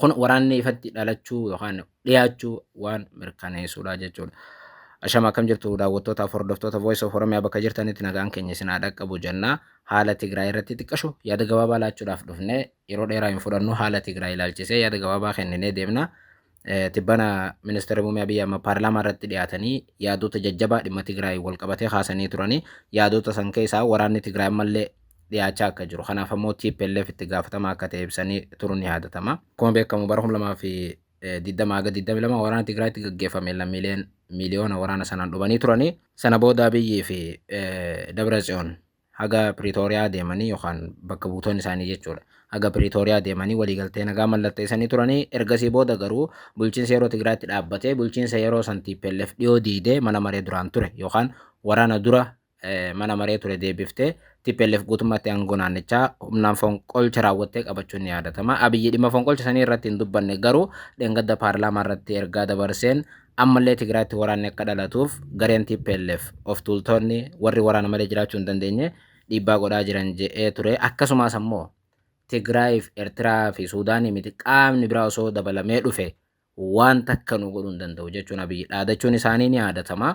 Kun waraanni ifatti dhalachuu yookaan dhiyaachuu waan mirkaneessuudha jechuudha. Ashama akkam jirtu daawwattootaaf hordoftoota Voice of Oromiyaa bakka jirtanitti nagaan keenya isin haa dhaqqabu jenna. Haala Tigraay irratti xiqqashu yaada gabaabaa laachuudhaaf dhufne yeroo dheeraa hin fudhannu haala Tigraay ilaalchisee yaada gabaabaa kenninee deemna. Tibbana ministeerri muummee Abiy Ahimad paarlaamaa irratti dhiyaatanii yaadota jajjabaa dhimma Tigraay wal qabatee kaasanii turanii yaadota san keessaa waraanni Tigraay ammallee dhiyaachaa akka jiru kanaaf ammoo TPLF itti gaafatamaa akka ta'e ibsanii turuun ni yaadatama. Akkuma beekamu bara 2020 haga 22 waraana Tigraayitti gaggeeffame lammiileen miiliyoona waraana sanaan dhumanii turanii sana booda Abiyyii fi Dabra Tsiyoon haga Piriitooriyaa deemanii yookaan bakka buutoonni isaanii jechuudha. Haga Piriitooriyaa deemanii waliigaltee nagaa mallatteessanii turanii ergasii booda garuu bulchiinsa yeroo Tigraayitti dhaabbatee bulchiinsa yeroo san TPLF dhiyoo diidee mana maree duraan ture yookaan waraana dura mana maree ture deebiftee TPLF guutummaatti aangoo naannichaa humnaan fonqolcha raawwattee qabachuun ni yaadatama. Abiyyi dhimma fonqolcha sanii irratti hin dubbanne garuu dheengadda paarlaamaa irratti ergaa dabarseen ammallee Tigraayitti waraanni akka dhalatuuf gareen TPLF of tuultoonni warri waraana malee jiraachuu hin dandeenye dhiibbaa godhaa jiran je'ee ture. Akkasumas ammoo Tigraayiif Eertiraa fi Suudaanii miti qaamni biraa osoo dabalamee dhufe waan takka nu godhuu hin danda'u jechuun Abiyyi dhaadachuun isaanii ni yaadatama.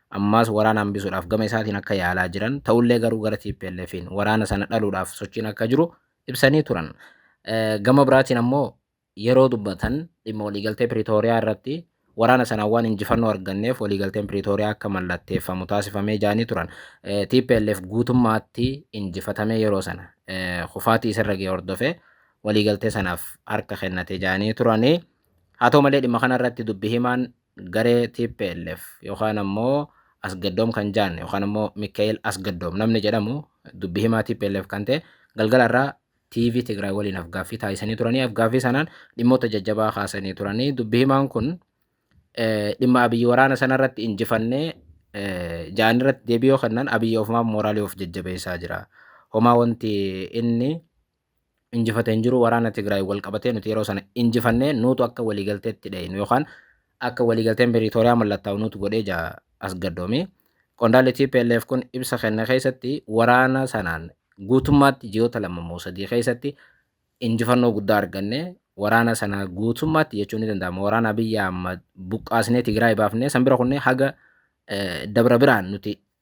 ammaas waraana hambisuudhaaf gama isaatiin akka yaalaa jiran ta'ullee garuu gara TPLFiin waraana sana dhaluudhaaf sochiin akka jiru ibsanii turan. Gama biraatiin ammoo yeroo dubbatan dhimma waliigaltee Piriitooriyaa irratti waraana sanaan waan injifannoo arganneef waliigalteen Piriitooriyaa akka mallatteeffamu taasifamee jaanii turan. TPLF guutummaatti injifatamee yeroo sana kufaatii isarra ga'e hordofee waliigaltee sanaaf harka kennate jaanii turanii. Haa ta'u malee dhimma kanarratti dubbi himaan garee tplf yookaan ammoo Asgaddoom kan jaan yookaan ammoo Mika'eel Asgaddoom namni jedhamu dubbi himaa tplf kan ta'e galgala irraa TV Tigraay waliin afgaaffii taasisanii turanii afgaaffii sanaan dhimmoota jajjabaa kaasanii turanii dubbi himaan kun dhimma abiyyi waraana sanarratti injifannee ja'an irratti deebii yoo kennan abiyyi ofumaaf mooraalii of jajjabeessaa jira. Homaa wanti inni injifate hin jiru waraana Tigraay wal qabatee nuti yeroo sana injifannee nuutu akka waliigalteetti dhaynu yookaan akka waliigalteen Piriitooriyaa mallattaa'u nuutu godhee jaa Asgaddoomi. Qondaalli TPLF kun ibsa kenne keessatti waraana sanaan guutummaatti ji'oota lama moo sadii keessatti injifannoo guddaa arganne waraana sana guutummaatti jechuun ni danda'ama waraana Abiyyi Ahmad buqqaasnee Tigraay baafnee san bira kunnee haga dabra biraan nuti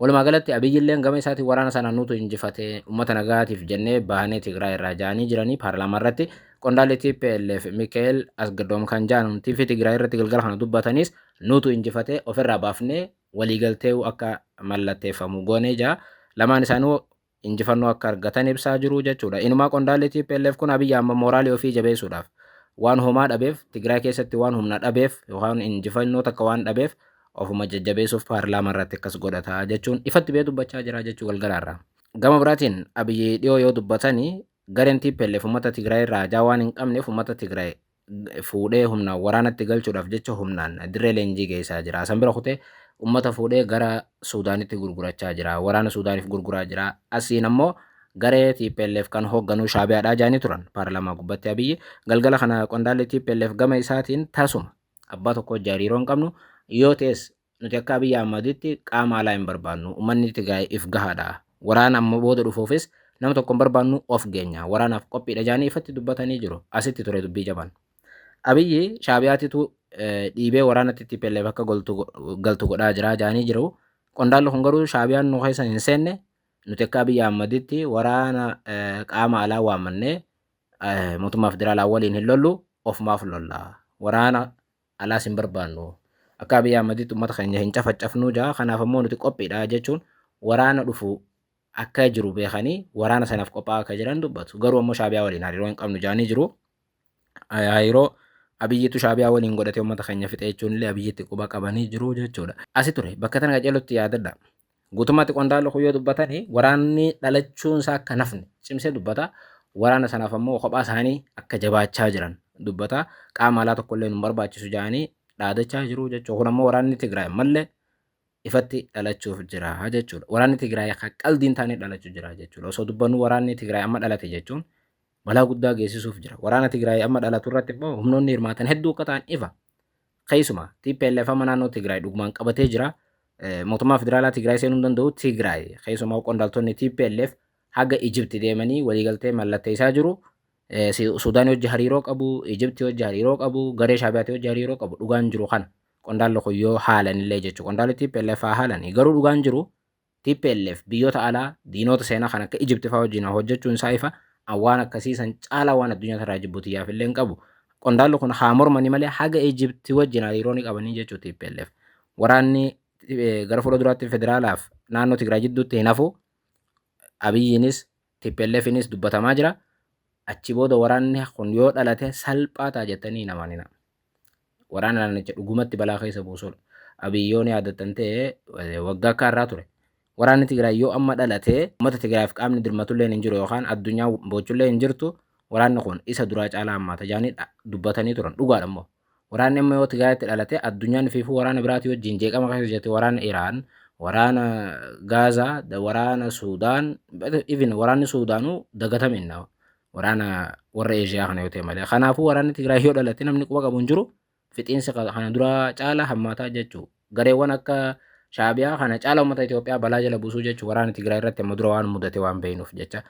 Walumaa galatti Abiy illeen gama isaatiin waraana sana nutu injifate, uummata nagaatiif jennee baanee Tigraay irraa ja'anii jiranii paarlaamaa irratti qondaalli tplf Mika'el Asgdoom kan ja'an TV Tigraay irratti galgala kana dubbataniis nutu injifate ofirraa baafnee waliigaltee'uu akka mallatteeffamu goonee ja'a. Lamaan isaanii injifannoo akka argatan ibsaa jiru jechuudha. Inumaa qondaalli tplf kun Abiy Ahmad mooraalii ofii jabeessuudhaaf waan homaa dhabeef Tigraay keessatti waan humna dhabeef yookaan injifannoo takka waan dhabeef ofuma jajjabeessuuf paarlaamaa irratti akkas godhata jechuun ifatti bee dubbachaa jira jechuu galgalaarraa. Gama biraatiin Abiy dhiyoo yoo dubbatani gareen tplf uummata Tigraay irraa hajaa waan hin qabneef uummata Tigraay fuudhee humnaan waraanatti galchuudhaaf jecha humnaan dirree leenjii geessaa jira. San bira kutee ummata fuudhee gara Suudaanitti gurgurachaa jira. Waraana Suudaaniif gurguraa jira. Asiin ammoo garee TPLF kan hoogganuu shaabiyaadhaa jaanii turan paarlaamaa gubbatti abiyyi galgala kana qondaalli TPLF gama isaatiin tasuma abbaa tokko hojii hariiroo hin qabnu yoo ta'es Nuti akka Abiy Ahmaditti qaama alaa hin barbaannu. Ummanni Tigraay if gahaadha. Waraana amma booda dhufuufis nama tokko hin barbaannu of geenya. Waraanaaf qophiidha jedhanii ifatti dubbatanii jiru. Asitti ture dubbii jabaan. Abiyyi Shaabiyaatitu dhiibee waraanatti TPLF akka galtu godhaa jira jedhanii jiru. Qondaalli kun garuu Shaabiyaan nu keessa hin seenne nuti akka Abiy Ahmaditti waraana qaama alaa waamannee mootummaa federaalaa waliin hin lollu ofumaaf lolla. Waraana alaas hin barbaannu. Akka Abiy Ahmaditti uummata keenya hin cafacafnuu jedha. Kanaaf ammoo nuti qophiidha jechuun waraana dhufu akka jiru beekanii waraana sanaaf qophaa'aa akka jiran dubbatu. Garuu ammoo Shaabiyaa waliin hariiroo hin qabnu jedhanii jiru. Hariiroo Abiyyiitu Shaabiyaa waliin godhatee uummata keenya fixee jechuun illee Abiyyiitti quba qabanii jiru jechuudha. Asi ture bakka tana qajeelutti yaadadha. Guutummaatti qondaalli kun yoo dubbatani waraanni dhalachuun isaa akka hin hafne cimsee dubbata. Waraana sanaaf ammoo kophaa isaanii akka jabaachaa jiran dubbata. Qaama alaa tokko illee nu hin barbaachisu jedhanii dhaadachaa jiru jechuudha. Kun ammoo waraanni Tigraay ammallee ifatti dhalachuuf jira jechuudha. Waraanni Tigraay akka qaldiin taanee dhalachuu jira jechuudha. Osoo dubbannu waraanni Tigraay amma dhalate jechuun balaa guddaa geessisuuf jira. Waraana Tigraay amma dhalatu irratti immoo humnoonni hirmaatan hedduu akka ta'an ifa. Keessuma TPLF amma naannoo Tigraay dhugumaan qabatee jira. Mootummaa federaalaa Tigraay seenuu hin danda'u. Tigraay keessumaa qondaaltonni TPLF haga Ijibti deemanii waliigaltee mallatteessaa jiru. Suudaan hojii hariiroo qabu, Ijibti hojii hariiroo qabu, garee Shaabiyaatii hojii hariiroo qabu dhugaan jiru kana. Qondaalli kun yoo haalan illee jechuudha. Qondaalli TPLF haa haalanii garuu dhugaan jiru tplf biyyoota alaa diinoota seenaa kan akka Ijipti fa'aa wajjin hojjechuun isaa ifa an waan akkasii san caalaa waan addunyaa irraa jibbu tiyyaaf illee hin qabu qondaalli kun haa mormanii malee haga Ijipti wajjin hariiroo ni qabanii jechuu tplf waraanni gara fuula duraatti federaalaaf naannoo Tigraay jidduutti hin hafu abiyyiinis TPLFinis dubbatamaa jira. Achi booda waraanni kun yoo dhalate salphaa ta'a jettanii hin amanina. Waraana naannicha dhugumatti balaa keessa buusudha. Abiy yoo ni yaadattan ta'e waggaa akka har'aa ture. Waraanni Tigraay yoo amma dhalate uummata Tigraayiif qaamni dirmatullee hin jiru yookaan addunyaa boochullee hin jirtu waraanni kun isa duraa caalaa hammaata jedhanii dubbatanii turan. Dhugaadha immoo. Waraanni amma yoo Tigraayitti dhalate addunyaan ifiifuu waraana biraatii wajjin jeeqama keessa jirti waraana Iraan waraana Gaazaa da- waraana Suudaan even waraanni Suudaanuu dagatame inna waraana warra Eeshiyaa kana yoo ta'e malee kanaafuu waraanni Tigraay yoo dhalate namni quba qabu hin jiru fixiinsi ka- kana duraa caala hammaataa jechuu gareewwan akka Shaabiyaa kana caala uummata Itoophiyaa balaa jala buusuu jechuu waraana Tigraay irratti amma dura waan mudate waan beeknuuf jecha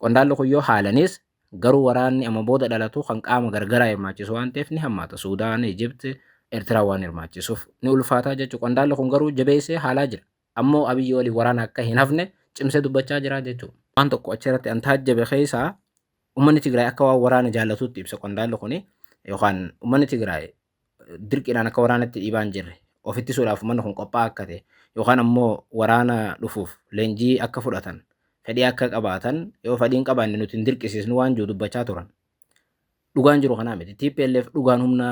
qondaalli kun yoo haalanis Garuu waraanni amma booda dhalatu kan qaama gargaraa hirmaachisu waan ta'eef ni hammaata. Suudaan, Ijipt, Ertiraa waan hirmaachisuuf ni ulfaataa jechuudha. Qondaalli kun garuu jabeessee haalaa jira. Ammoo Abiyyi waliin waraana akka hin hafne cimsee dubbachaa jira jechuudha. Waan tokko achirratti an taajjabe keessaa ummanni Tigraay akka waan waraana jaallatuutti ibsa qondaalli kuni yookaan ummanni Tigraay dirqiidhaan akka waraanatti dhiibaa hin jirre of ittisuudhaaf uummanni kun qophaa'aa akka ta'e yookaan ammoo waraana dhufuuf leenjii akka fudhatan fedhii akka qabaatan yoo fedhiin qabaanne nuti hin dirqisiisnu waan jiru dubbachaa turan. Dhugaan jiru kanaa miti. TPLF dhugaan humna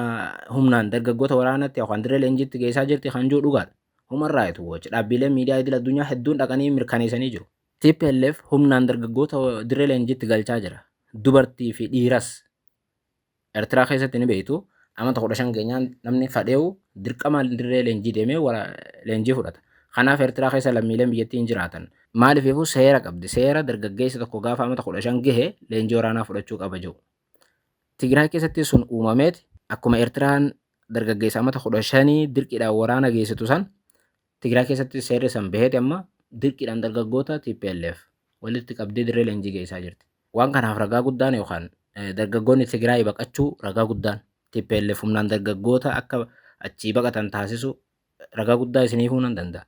humnaan dargaggoota waraanatti yookaan dirree leenjiitti geessaa jirti kan jiru dhugaadha. Human Rights Watch dhaabbiileen miidiyaa idil addunyaa hedduun dhaqanii mirkaneessanii jiru. TPLF humnaan dargaggoota dirree leenjiitti galchaa jira. Dubartii fi dhiiras Ertiraa keessatti ni beektu amata kudha shan keenyaan namni fadheewu dirqamaan dirree leenjii deemee leenjii fudhata. Kanaaf Ertiraa keessa lammiileen biyyattii hin jiraatan. Maaliifuu seera qabdi. Seera dargaggeessi tokko gaafa amata kudha shan gahe leenjii waraanaa fudhachuu qaba jiru. Tigraay keessatti sun uumameeti akkuma Ertiraan dargaggeessa amata kudha shanii dirqiidhaan waraana geessitu san Tigraay keessatti seerri san baheeti amma dirqiidhaan dargaggoota TPLF walitti qabdee dirree leenjii geessaa jirti. Waan kanaaf ragaa guddaan yookaan dargaggoonni Tigraay baqachuu ragaa guddaan TPLF humnaan dargaggoota akka achii baqatan taasisu ragaa guddaa isiniifuu nan danda'a.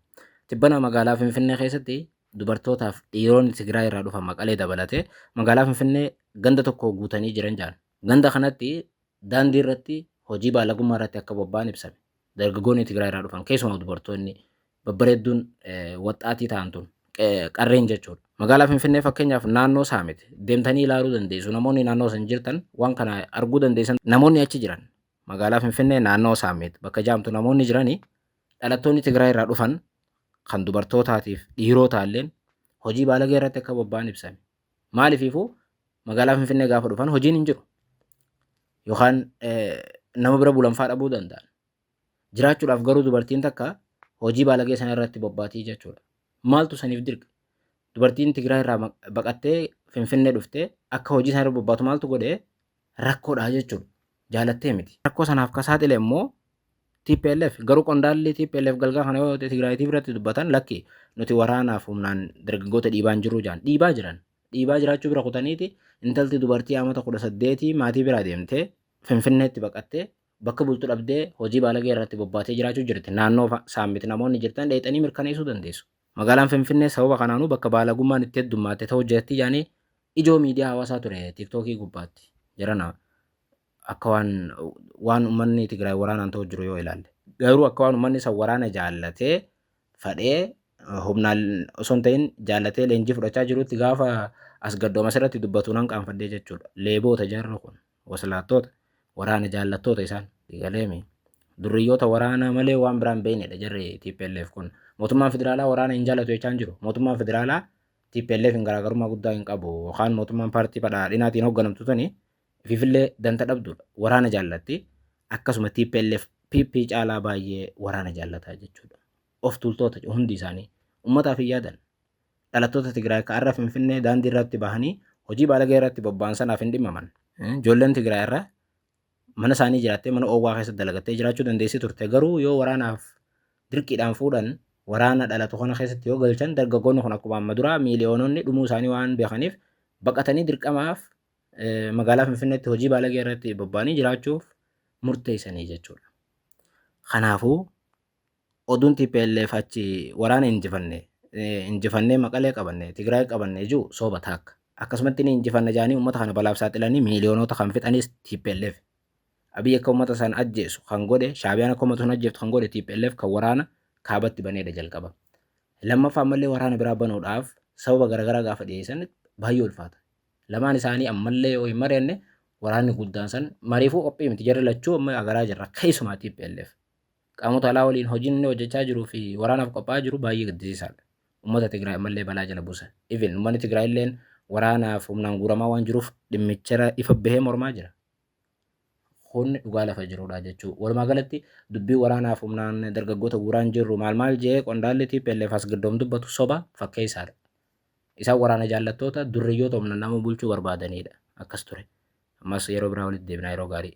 Tibbana magaalaa Finfinnee keessatti dubartootaaf dhiironni Tigraay irraa dhufan maqalee dabalatee magaalaa Finfinnee ganda tokko guutanii jiran jedhan. Ganda kanatti daandii irratti hojii baalagummaa irratti akka bobba'an ibsame. dargaggoonni Tigraay irraa dhufan keessumaa dubartoonni babbareedduun waxxaatii ta'an tun qarreen jechuudha. Magaalaa Finfinnee fakkeenyaaf naannoo Saamit deemtanii ilaaluu dandeessu. Namoonni naannoo san jirtan waan kana arguu dandeessan namoonni achi jiran magaalaa Finfinnee naannoo Saamit bakka jaamtu namoonni jiranii dhalattoonni Tigraay irraa dhufan kan dubartootaatiif dhiirotaalleen hojii baalagee irratti akka bobba'an ibsame. Maalifiifuu magaalaa Finfinnee gaafa dhufan hojiin hin jiru. Yookaan nama bira bulanfaa dhabuu danda'an. Jiraachuudhaaf garuu dubartiin takka hojii baalagee sana irratti bobbaatii jechuudha. Maaltu saniif dirqa? Dubartiin Tigraay irraa baqattee Finfinnee dhuftee akka hojii sana irra bobbaatu maaltu godhee rakkoodha jechuudha. jaalattee miti. Rakkoo sanaaf ka saaxile immoo TPLF. Garuu qondaalli TPLF galgala kana yoo Tigraay TV irratti dubbatan lakki nuti waraanaaf humnaan dargaggoota dhiibaa hin jirru jedhan. Dhiibaa jiran. Dhiibaa jiraachuu bira kutaniiti intalti dubartii amata kudha saddeetii maatii biraa deemtee Finfinneetti baqattee bakka bultu dhabdee hojii baalagee irratti bobbaatee jiraachuu jirti. Naannoo saammiti namoonni jirtan dheexanii mirkaneessuu dandeessu. Magaalaan Finfinnee sababa kanaanuu bakka baalagummaan itti heddummaatte ta'uu jeetti yaani ijoo miidiyaa hawaasaa ture tiiktookii gubbaatti jarana akka waan waan ummanni Tigraay waraanaan ta'u jiru yoo ilaalle. Garuu akka waan ummanni san waraana jaallatee fadhee humnaan osoo hin ta'in jaallatee leenjii fudhachaa jirutti gaafa as gaddooma asirratti dubbatu nan qaanfadhee jechuudha. Leeboota jarri kun. Waslaattoota, waraana jaallattoota isaan. Galeemi. Durriyyoota waraanaa malee waan biraan beeknedha jarri TPLF kun. Mootummaan federaalaa waraana hin jaallatu jechaa hin jiru. Mootummaan federaalaa TPLF hin garaagarummaa guddaa hin qabu. Yookaan mootummaan paartii badhaadhinaatiin hoogganamtu tuni ififillee danta dhabdudha. Waraana jaallatti. Akkasuma TPLF PP caalaa baay'ee waraana jaallataa jechuudha. Of tuultoota hundi isaanii. Ummataaf hin yaadan. dhalattoota Tigraay ka har'a Finfinnee daandii irratti bahanii hojii baalagee irratti bobba'an sanaaf hin dhimmaman. Ijoolleen Tigraay irra mana isaanii jiraattee mana oowwaa keessatti dalagattee jiraachuu dandeessi turte garuu yoo waraanaaf dirqiidhaan fuudhan waraana dhalatu kana keessatti yoo galchan dargaggoonni kun akkuma amma duraa miiliyoononni dhumuu isaanii waan beekaniif baqatanii dirqamaaf magaalaa Finfinneetti hojii baalagee irratti bobba'anii jiraachuuf murteessanii jechuudha. Kanaafuu oduun tplf achi waraana injifanne eh, injifannee maqalee qabanne tigraay qabanne ijuu sooba taakka akkasumatti ni injifanna jaanii ummata kana balaaf saaxilanii miiliyoonota kan fixanis tplf abiy akka ummata san ajjeesu kan godhe shaabiyaan akka ummata sun ajjeeftu kan godhe tplf kan waraana kaabatti baneedha jalqaba lammaffaa ammallee waraana biraa banuudhaaf sababa garaagaraa gaafa dhiyeessan baay'ee ulfaata lamaan isaanii ammallee yoo hin mari'anne waraanni guddaan san mariifuu qophii miti jarri lachuu amma agaraa jirra keessumaa tplf Qaamota alaa waliin hojiin inni hojjechaa jiruu fi waraanaaf qophaa'aa jiru baay'ee gaddisiisaadha. Uummata Tigraay ammallee balaa jala buusa. Even uummanni Tigraay illeen waraanaaf humnaan guuramaa waan jiruuf dhimmichara ifa bahee mormaa jira. Kun dhugaa lafa jirudha jechuu. Walumaa galatti dubbii waraanaaf humnaan dargaggoota guuraan jirru maal maal jee qondaalli TPLF as gaddoom dubbatu soba fakkeessaadha. Isaan waraana jaallattoota durriyyoota humnaan nama bulchuu barbaadanidha. Akkas ture. Ammas yeroo biraa walitti deebinaa yeroo gaarii.